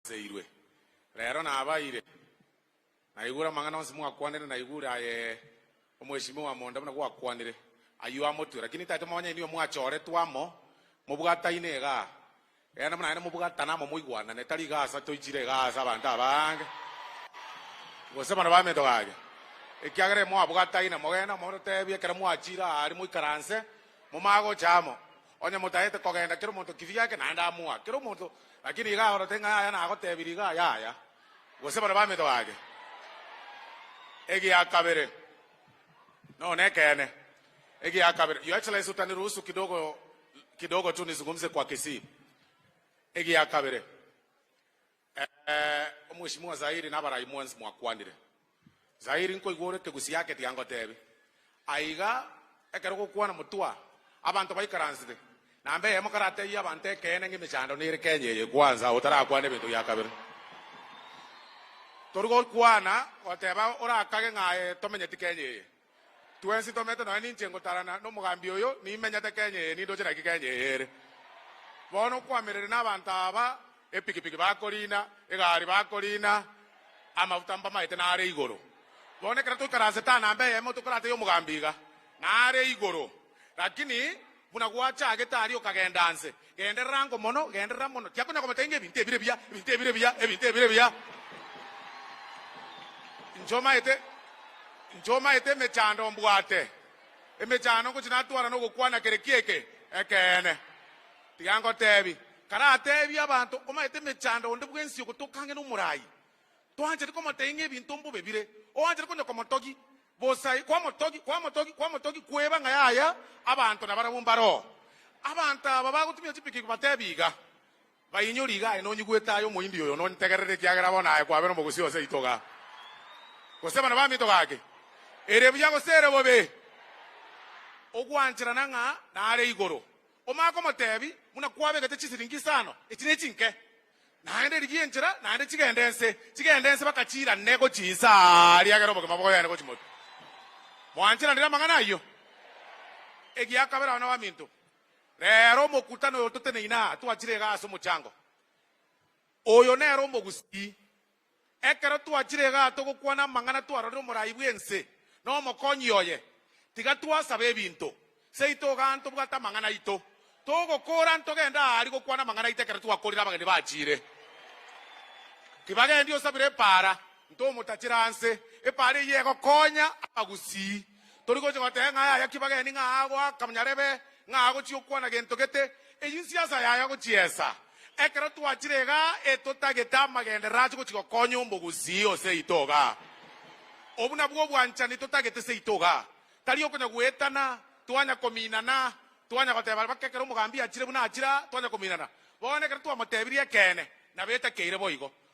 Seirwe. Rero nabaire naigure amang'ana onsi mwakwanire, naigure aye omweshimiwa monda buna gwakwanire, ayio amotwe, lakini ntaete monyene nigo mwachoretwe amo mobwataine iga, egena buna naende mobwatane amo moigwanane, tari iga asa toichire iga ase abanto abange, gose bana bamento gake, ekiagera imwabwataine, mogende amo totebie ekero mwachire aria moikaranse momanye gocha amo. Onye motaete kogenda kera omonto kibi giake, naende amoa kera omonto, lakini iga aorote ng'a yaya nagotebirie iga yaya, gose baria baminto bake. Egia kabere, no, nekeene. Egia kabere, Your Excellency, utaniruhusu kidogo, kidogo tu nizungumze kwa Kisii. Egia kabere. Ee, Omwesimwa Zairi na abarai mwensi mwakwanire. Zairi nkoigwa ore kegusi yake tiangotebi. Aiga, ekero gokwana motwa, abanto baikaransete, na mbe eyemo karatebie abanto ekeene ng'a emechando nere Kenya eye kwanza otarakwane ebinto bia kabere. Tori gokwana goteba orakage ng'a aye tomenyeti Kenya eye. Twensi tomete nonya ninche ngotarana nomogambi oyo nimenyete Kenya eye nindoche naki Kenya eye ere. Bono kwamerire nabanto aba epikipiki bakorina, egari bakorina, amafuta mbamaete nare igoro. Bono ekero toikare ase taa namba eyemo tokorata yomogambi iga nare igoro. Lakini. Buna gwachagete aria okagenda nse, genderera ngo mono, genderera mono. Tiakonya komata inga ebinto ebire biya, ebinto ebire biya, ebinto ebire biya. Inche omaete, inche omaete emechando mbwate, emechando ngochi natwara nogokwana kere kieke ekeene. Tiga ngotebi, karatebi abanto, omaete emechando onde bwensi ogotoka ang'e nomorai. Toanchete komotebia ng'a ebinto mbobe bire, oanchete konya komotogi, bosa kwamotogi, kwamotogi, kwamotogi, kweba ng'a yaya, abanto nabarabwo mbaroo. Abanto aba bagotumia chipikipiki batebi iga, Bainyori iga aye nonyigwete aye omohindi oyo nontegerere ekiagera bono aye kwabera omogusii o seito igaa, gose bana baminto gake, ere buya gose ere bobe, ogwancherana ng'a nare igoro. Omanye komotebi, Buna kwabegete chisiringi isano, echi nechinke? Naende rigia enchera, naende chigende nse, chigende nse baka chirane gochia inse aa, riagere obogima bogoyane gochia motu. Mwancheranire amang'ana ayio? Egia kabere, abana baminto, rero omokutano oyo toteneine aa, twachire iga ase omochango. Oyo nere omogusii, Ekero twachire igaa togokwana amang'ana twarorire omoraai bw'ense na omokonyi oye. Tiga twasaba ebinto seito igaa ntobwate amang'ana aito. Togokora ntogende aa aria gokwana amang'ana aito ekero twakorire abageni bachiire. Tiba gendi osabire epaara, ntomotachera anse. Epaara eyio egokonya abagusii. Tori gocha goteba ng'a yaya ki bageni, ng'a agoaka nyarebe, ng'a agochia okwana gento gete. Eyio nsiasa yaya gochiesa. Ekero twachire iga etotagete amagenderero ache gochia gokonya omogusii o seito iga. Obwo nabwo obwanchani totagete seito iga. Tari okonya goetana, twanya kominana, twanya goteba baka ekero omogambi achire buna achira, twanya kominana. Bono ekero twamotebirie ekeene, nabo etakeire boigo.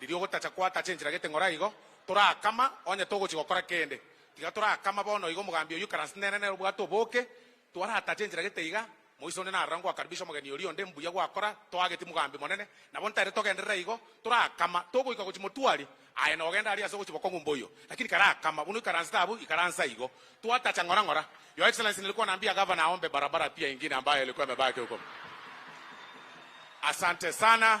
Riria ogotacha kwatacha enchera gete ng'ora igo, torakama onye togochia gokora kende. Tiga torakama bono igo omogambi oyio karanse nere nere obwate oboke. Twaratacha enchera gete iga, Moise onde narora ngoakaribisha omogeni oria onde, mbuya gwakora, toageti mogambi monene. Nabo ntaete togenderera igo, torakama togoika gochia motwari, aye nogenda aria ase ogochia bokong'u mboyo. Lakini karakama buna oikaransete abwo, ikaransa igo. Twatacha ng'ora ng'ora. Your Excellency nilikuwa naambia Gavana aombe barabara pia ingine ambayo ilikuwa imebaki huko. Asante sana.